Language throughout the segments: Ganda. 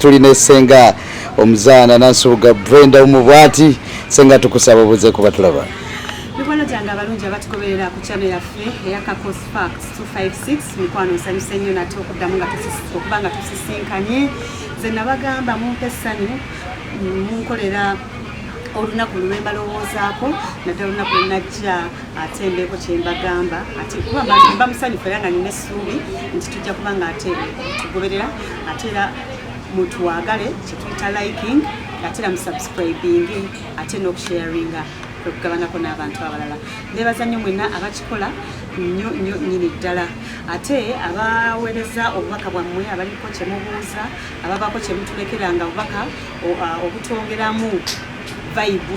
tuli ne senga omuzaana nansubuga brenda omu bwati senga tukusaba obuze kuba tulaba mikwano gyange abalungi abatugoberera ku channel yaffe eya kakos fax 256 mikwano nsanyuse nnyo nate okuddamu okuba nga tusisinkanye ze nabagamba mumpa essanyu munkolera olunaku lwembalowoozaako naddala olunaku lwenajja ate embeeko kyembagamba ate kuba mbamusanyufu era nga nina essuubi nti tujja kuba nga ate tugoberera ate era mutuwagale kyetuyita liking ate era musubscribing ate n'okusharinga okugabanako n'abantu abalala nebaza nnyo mwena abakikola nnyo nnyo nyini ddala ate abaweereza obubaka bwammwe abaliko kyemubuuza ababaako kyemutulekeranga obubaka obutwongeramu vibe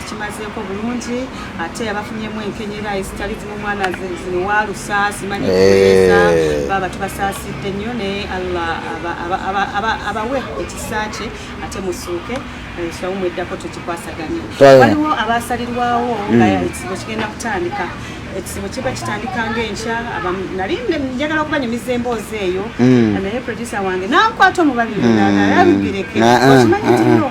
tukimazeeko bulungi ate abafunyemu enkenyera ezitali zimu mwana ziwalusaasi manyi kuweza eh. baba tubasaasidde nnyo naye allah abawe ekisa kye ate musuuke ensonga mweddako tukikwasaganye waliwo abasalirwawo nga hmm. ekizibu kigenda kutandika ekizibu kiba kitandika ngaenkya nali njagala okuba nyumiza emboozi eyo hmm. naye producer wange nankwata omubabiri hmm. nalabibireke okimanyi tino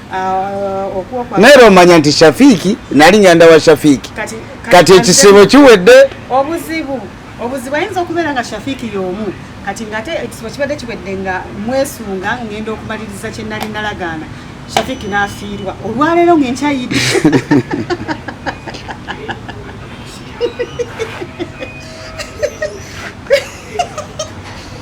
Ah, naye lwomanya nti shafiiki nali nyanda wa shafiiki kati ekisibo kiwedde obuzibu obuzibu ayinza okubeera nga shafiiki yomu kati ngaate ekisibo kibadde kiwedde nga mwesunga ngenda okumaliriza kyenali nalagaana shafiiki nafiirwa olwaleero ngenkyayidde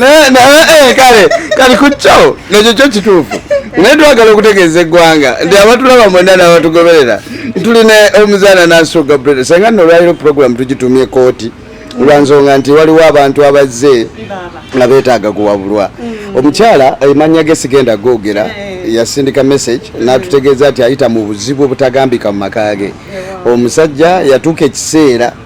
Eh, kale kale ku kyo nekyo kyo kituufu naye twagala okutegeeza eggwanga nti abatulaba mwena n'abatugoberera tulina omuzaana nanso gabriel senga nno olwaliro puroguramu tugitumye kooti olwansonga nti waliwo abantu abazze nga beetaaga kuwabulwa mm. omukyala emanya ge sigenda googera eh. yasindika message mm. n'atutegeeza nti ayita mu buzibu obutagambika mu maka ge omusajja yatuuka ekiseera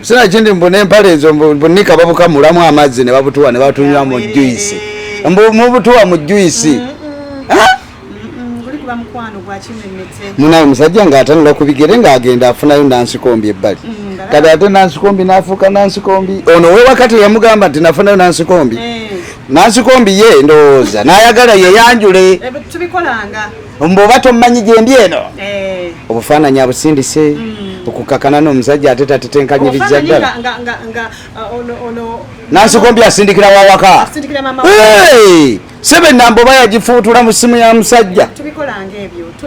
sina kindi mbu nempale ezo mbunika babuka mulamu amazzi ne babutuwa ne batunywa mu juisi mbu mubutuwa mu juisi munaye musajja ngaatanula ku bigere ng'agenda afunayo nansikombi ebbali mm, kati ate nansikombi nafuuka nansikombi ono wewakati yamugamba nti nafunayo nansikombi eh. nansikombi ye ndowooza nayagala yeyanjule eh, mbu oba tommanyi gyendi eno eh. obufaananyi abusindise hmm. okukakana nomusajja ate tatetenkanyiriza ddala uh, nansikombi asindikira wawaka sebe namba oba yagifuutula mu simu ya musajja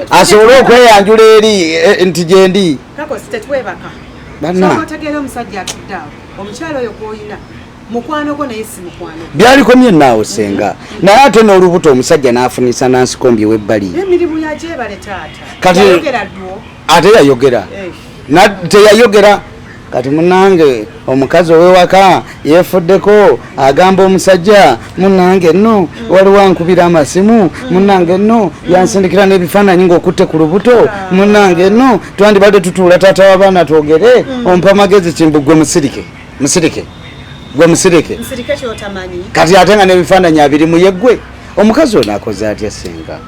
asobole okweyanjula eri e, e, nti gyendi banna mukwano gwo naye si mukwano byalikomye naawo senga naye ate n'olubuto omusajja n'afunisa nansikombi webbali emirimu yagyebale taata kati ate yayogera eh. teyayogera kati munange omukazi owewaka yefuddeko agamba omusajja munange no mm. waliwo ankubira amasimu mm. munange no mm. yansindikira n'ebifaananyi ngaokutte ku lubuto ah. munange no twandibadde tutuula taata w'abaana twogere ompa amagezi kimbugwe musirike musirike gwe musirike kati ate nga nebifaananyi abiri muyegwe omukazi ono akoze atya senga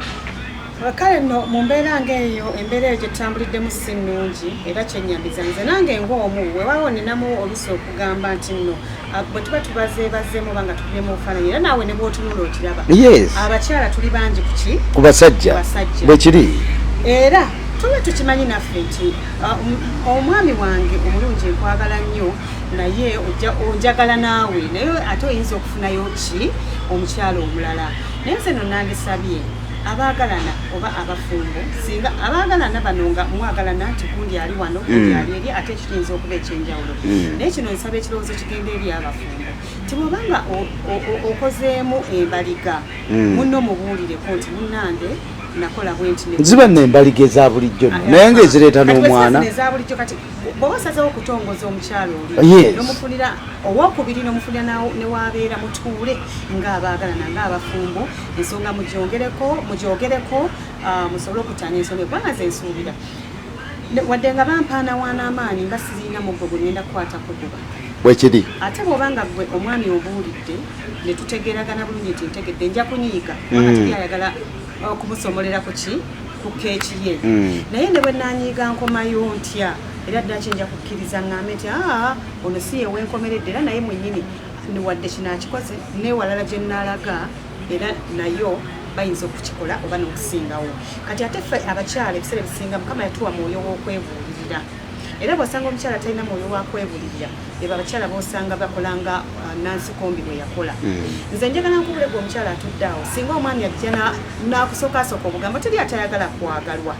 kale no mu mbeera ngaeyo embeera eyo gyetutambuliddemu si nnungi era kyenyamiza nze nange ngaomu wewawo ninamu olusi okugamba nti nno ah, bwe tuba tubazeebazeemu oba nga tubyemu obufaananyi era naawe ne bwotunula okiraba abakyala tuli bangi kuki ku basajja bwekiri era tuba tukimanyi naffe nti Ah, omwami wange omulungi nkwagala nnyo naye onjagala naawe naye ate oyinza okufunayo ki omukyalo omulala naye nze no nandisabye abaagalana oba abafumbo singa abaagalana bano nga mwagalana nti gundi ali wano gundi mm. ali eri ate ekiyinza okuba ekyenjawulo mm. naye kino nsaba ekirowoozo kigenda eri abafumbo nti bwoba nga okozeemu embaliga mm. munno mubuulireko nti munnange ziba nembaliga eza bulijjo no naye nga ezireeta n'omwana bwoba osazewo okutongoza omukyalo olinomufunira owokubiri nomufunira newabeera mutuule ngaabagalana ngaabafumbo ensonga mujogereko mujogereko ah, musobole okutanya ensonga eggwanga zensuubira wadde nga bampaana wanaamaanyi nga sirina muggo gwe ngenda kukwata kuguba bwekiri ate bwoba nga gwe omwami obuulidde netutegeragana bulungi nti ntegedde nja kunyiiga kubanga teri ayagala uh, kumusomolera ku ki ku keeki ye mm. naye ne bwe nanyiiga nkomayo ntya era ddala kyenja kukkiriza ŋŋambe nti aa ono si yewenkomeredde era naye mwenyini wadde kino akikoze newalala gye nnaalaga era nayo bayinza okukikola oba n'okusingawo kati ate ffe abakyala ebiseera ebisinga mukama yatuwa mwoyo w'okwebuulirira Era bw'osanga omukyala talina mwoyo wa kwebulirira, ebo abakyala b'osanga bakola nga uh, Nansi Kombi bwe yakola. Hmm. Nze njagala nkubule gwe omukyala atudde awo, singa omwami ajja n'akusokaasooka obugambo, teri atayagala kwagalwa.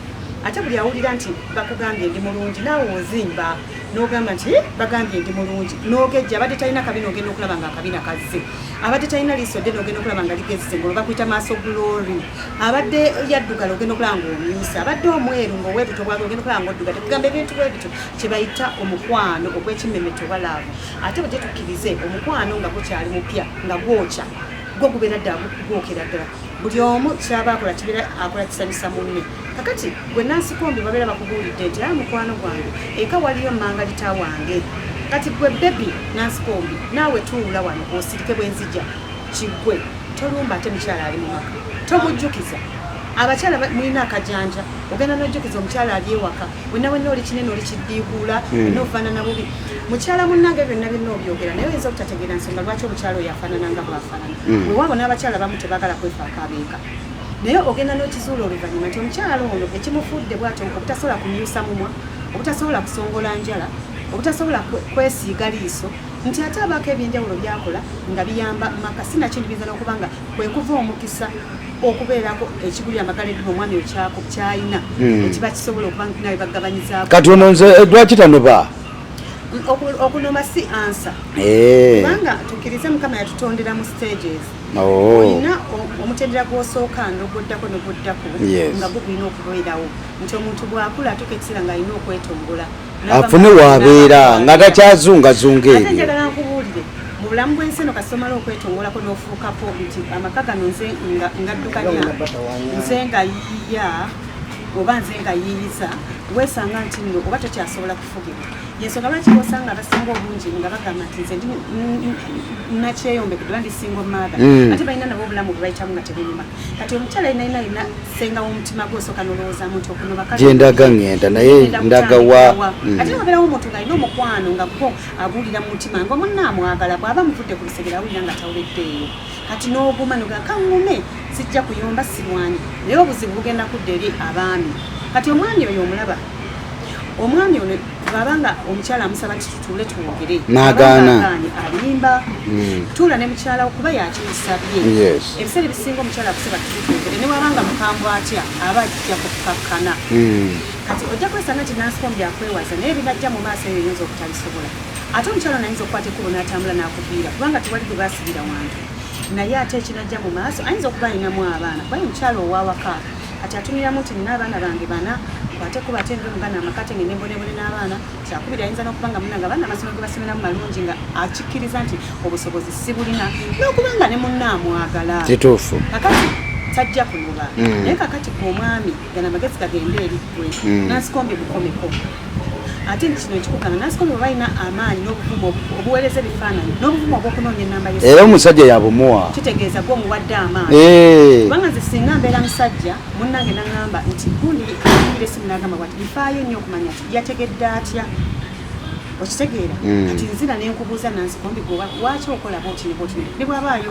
Ate buli awulira nti bakugambye ndi mulungi, naawe ozimba n'ogamba nti eh, bagambye ndi mulungi, n'ogejja abadde talina kabina, ogenda okulaba nga akabina kazze. abadde talina liiso ddene ogenda okulaba nga ligezze ngolo bakuyita maaso glory abadde yaddugala ogenda okulaba nga omyusa abadde omweru nga owebuto bwabe ogenda okulaba nga oddugala kugamba ebintu bwebityo kyebayita omukwano ogw'ekimmemete oba laavu ate bwe gyetukkirize omukwano nga gukyali mupya nga gwokya gwo gubeera ddala gwokera ddala buli omu kyaba akola kibeera akola kisanyusa munne kakati gwe nansikombi babeera bakubuulidde nti aa ah, mukwano gwange eka waliyo mangalita wange kati gwe bebi nansikombi naawe tuula wano osirike bwenzija kigwe tolumba ate mukyala ali mu maka tomujjukiza abakyala mulina akajanja ogenda nojjukiza omukyala ali ewaka wena wena oli kinene oli kiddiiguula hmm. nofaanana bubi mukyala munnange byonna byonna obyogera naye oyinza obutategeera nsonga lwaki omukyala oyo afaanana nga bwafaanana hmm. wewaabo n'abakyala bamu tebagala kwefaako abeeka naye ogenda n'okizuula oluvannyuma nti omukyalo ono ekimufudde bwati obutasobola kumyusa mumwa obutasobola kusongola njala obutasobola kwesiiga liiso nti ate abaako ebyenjawulo byakola nga biyamba maka sinakintu biyinza n'okuba nga kwekuva omukisa okubeerako ekiguli amagala eddiba omwami okyako kyalina hmm. ekiba kisobola okuba nawe bagabanyizaako kati ono nze eh, lwaki tanoba okunoma si ansa eh. kubanga tukkirize mukama yatutondera mu stages Oh. olina omutendera gwosooka noguddako noguddako nga gugulina okubeerawo nti omuntu bwakula atuuka ekiseera ngaalina okwetongola afune wabeera nga takyazungazunga ebyo njagala nkubuulire mu bulamu bwensi eno kasomala okwetongolako nofuukako nti amaka gano nze ngaddukanya nze nga yiya oba nze nga yiyiza wesanga nti no oba tokyasobola yensonga lwaki osanga abasinga obungi nga bagamba nti nze nakyeyombekedwa ndi single mother hmm. ate balina nabo obulamu bwebayitamu nga tebunyuma kati omukyala yenayina alina senga womutima gwe osooka nolowoozamu nti okunobakagyendaga ngenda naye ndagawa hmm. ate wabeerawo omuntu ngaalina omukwano nga gwo aguwulira mu mutima nga omunna amwagala bwaba muvudde ku lusegera awulira nga tawuleddeeyo kati n'oguma nogaa kaŋume sijja kuyomba sirwanyi naye obuzibu bugenda kudda eri abaami kati omwami oyo omulaba omwami ono bwaba nga omukyala amusaba nti tutuule twogere nagaana alimba hmm. tuula ne mukyala kuba yakimusabye ebiseera ebisinga omukyala akusaba tutwogere ne waba nga mukambwe atya aba ajja kukakkana hmm. kati ojja kwesanga nti nansikombi akwewaza naye binajja mu maaso eyo yinza obutalisobola ate omukyala nayinza okukwata ekubo n'atambula n'akuviira kubanga tewali gwe basibira wantu naye ate ekinajja mu maaso ayinza okuba alinamu abaana kuba ye mukyala owawaka kati atumiramu nti nina abaana bange bana ate kuba ate ndi omugana amaka te ngende mbonebone n'abaana kyakubiri ayinza n'okuba nga munanga abaana amasomo ge basomeramu malungi nga akikkiriza nti obusobozi si bulina n'okuba nga ne munna amwagala kituufu kakati tajja kunoba mm. naye kakati gwe omwami gana amagezi gagende eri gwe mm. nansikombi bukomeko ate nti kino ekikugana nasikolo bwe balina amaanyi n'obuvumu obuweereza ebifaananyi n'obuvumu obw'okunoonya ennamba yo era omusajja yabumuwa kitegeeza gwe omuwadde amaanyi eh. kubanga nze singa mbeera musajja munnange nangamba nti gundi ayimbira esimu nagamba bwati bifaayo nnyo okumanya ti yategedde atya okitegeera hmm. kati nzira nenkubuuza nansikombi goba lwaki okolaba otini botini ne bwabaayo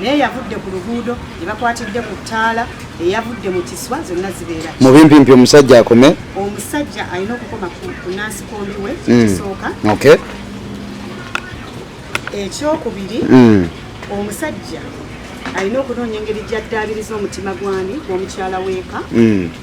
naye yavudde ku luguudo ne bakwatidde ku ttaala eyavudde mu kiswa zonna zibeera mu bimpimpi omusajja akome omusajja alina okukoma ku nansikombi we hmm. kisooka ekyokubiri hmm. omusajja alina okunoonya engeri gyaddaabiriza omutima gwani gwomukyala weeka hmm.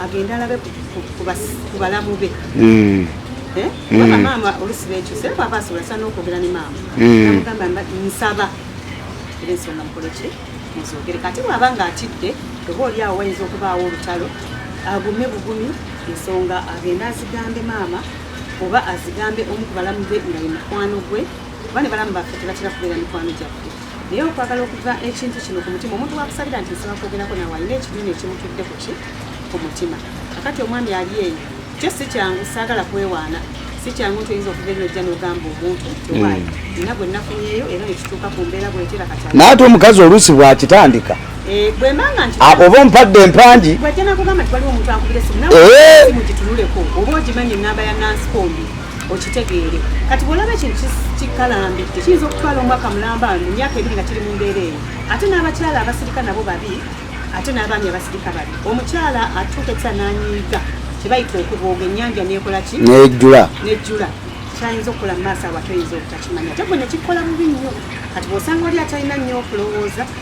agende alabe ku balamu be hmm. eh? hmm. maama olusi bekyuse aba asobola sana okwogera ne maama hmm. namugamba nsaba era ensonga mukoleki muzogere kati bwaba nga atidde oba oli awo wayinza okubaawo olutalo agume bugumi ensonga agende azigambe maama oba azigambe omu ku balamu be nga ye mukwano gwe kuba ne balamu baffe tebatera kubeera mikwano gyaffe naye okwagala okuva ekintu kino ku mutima omuntu wakusabira nti nsaba kwogerako nawe alina ekibiina ekimutudde kuki ku mutima akati omwami ali eyo kyo si kyangu saagala kwewaana si kyangu nti oyinza okuva enyojja nogamba omuntu tiwaayi hmm. nina gwe nafunyeeyo era nekituuka ku mbeera bwetera kati naye ate omukazi oluusi bwakitandika eh, ah, oba ompadde empangi bwajja nakugamba nti waliwo omuntu akubira esimu nawe esimu eh? gitunuleko oba ogimanyi enamba ya nansikombi okitegeere kati bwolaba ekintu kikalambidde kiyinza okutwala omwaka mulamba ano emyaka ebiri nga kiri mu mbeera eyo ate n'abakyala abasirika nabo babi ate n'abaami abasirika babi omukyala atuuka ekisa n'anyiiga kyebayita okubooga ennyanja nekola ki nejjula nejjula kyayinza okukola mu maaso awo ate oyinza obutakimanya ate gwe nekikola bubi nnyo kati bwosanga oli atalina nnyo okulowooza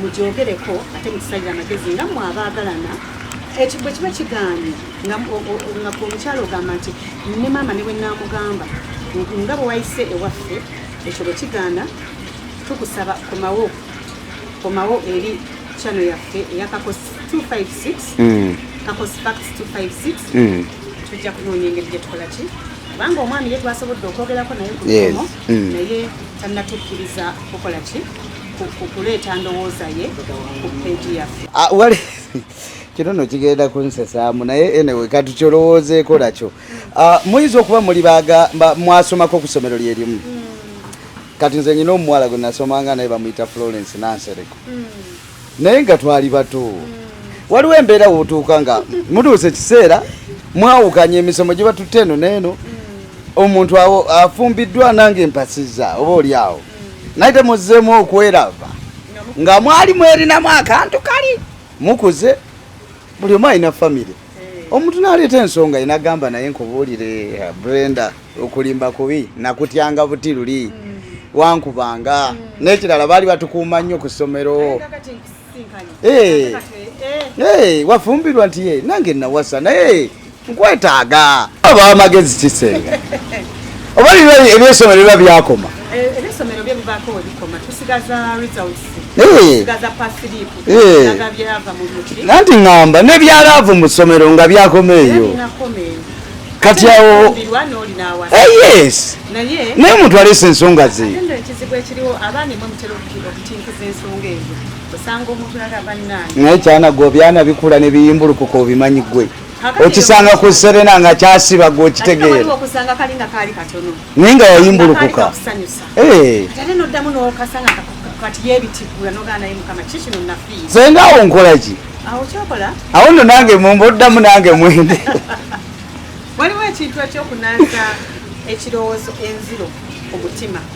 mugyogereko ate mukisalire amagezi nga mwe abaagalana ekyo bwe kiba kigaanye nga omukyala ogamba nti ne maama ne bwe naamugamba nga bwe wayise ewaffe ekyo bwe kigaana tukusaba komawo komawo eri chano yaffe eya kakosi 256 mm. kakosi fax 256 mm. tujja kunoonya engeri gyetukola ki kubanga omwami ye twasobodde okwogerako naye kuomo mm. naye tannatukkiriza kukola ki kuleeta ndowooza ye ku peegi yaffe ah, kino no kigenda kunsesaamu naye enewe katukyolowoozeeko nakyo ah, muyinza okuba muli mwasomako ku ssomero lye limu hmm. kati nze nyina omuwala gwe nasomanga naye bamuyita florence nansereko hmm. naye nga twali bato hmm. waliwo embeera wotuuka nga mutuuse ekiseera mwawukanya emisomo gye batutte eno neeno omuntu awo afumbiddwa nange mpasiza oba oli awo naye temuzzeemu okwerava nga mwali mwerinamu akantu kali mukuze buli omu alina famire eh. omuntu naleeta ensonga ye nagamba naye nkubuulire eh, brenda okulimba kubi nakutyanga buti luli hmm. wankubanga hmm. n'ekirala baali batukuuma nnyo ku ssomero eh, Eh. Eh, wafumbirwa nti ye nange nawasa naye nkwetaaga oba amagezi kisenga oba ebyesomero biba byakoma eh, nanti ŋamba nebyalaavu mu ssomero nga byakoma eyo kati awo yes naye omuntu aleesa ensonga ze naye kyana gwe obyana bikula ne biyimbulukuka obimanyi gwe okisanga ku serena nga kyasiba gwe okitegeera naye nga yayimbulukuka eh. senga awo nkolaki awo no nange mumba oddamu nange mwende waliwo ekintu ekyokunanza ekirowoozo enziro omutima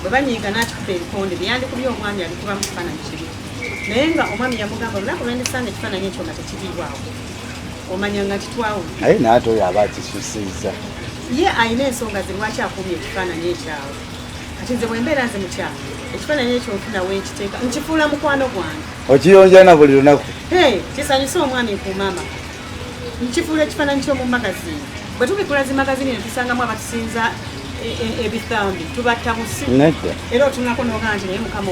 bwe banyiiga n'akikuba ebikonde bye yandikubye omwami abikuba mu kifaananyi kibi naye nga omwami yamugamba olunaku lwendisanga ekifaananyi ekyo nga tekiriibwawo omanya nga kitwawula naye naate oyo aba akisusiza ye alina ensonga ze lwaki akuumye ekifaananyi ekyawo kati nze bwembeera nze mukyamu ekifaananyi ekyo nfuna wenkiteeka nkifuula mukwano gwange okiyonja na buli lunaku kisanyusa omwami ku maama nkifuula ekifaananyi ky'omu magazini bwe tubikula zi magazini netusangamu abatusinza e, e, ebithambi tubatta busi era otunako nogaa nti naye mukama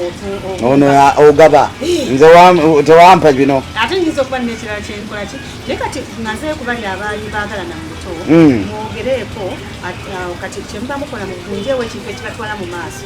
ono ogaba nze tewampa bino ate nyinza okuba nekirala kyenkolaki naye kati naze kubali abaali bagalana mu buto mm. mwogereeko kati kyemuba mukola mugunjeewo ekintu ekibatwala mu maaso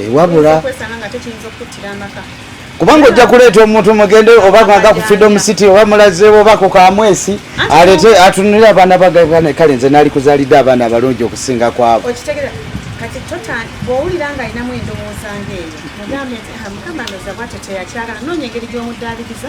Eh, wabula kubanga ojja kuleeta omuntu mugende oba aga ku freedom city oba mulazeewo oba ku kamwesi alete atunulire abaana bagane kale nze naali kuzaalidde abaana abalungi okusinga kwabo kati bwowulira nga alinamu endowooza ngaeyo mugambe nti ah, mukama ndoza bwatyo teyakyagala noonya engeri gy'omuddaaliriza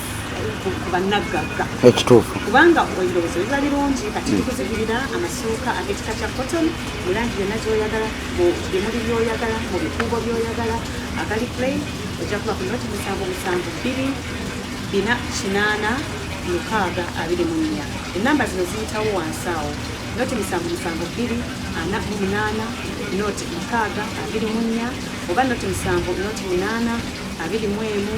bannaggagga ekituufu kubanga ebirowoozo biba birungi kati bikuzigirira hmm. amasuuka ag'ekika kya cotton mu langi yonna gyoyagala mu bimuli byoyagala mu bikuubo byoyagala agali play ojja kuba ku noti musanvu musanvu bbiri bina kinaana mukaaga abiri mu nnya ennamba zino ziyitawo wansi awo noti musanvu musanvu bbiri ana mu munaana noti mukaaga abiri mu nnya oba noti musanvu noti munaana abiri mu emu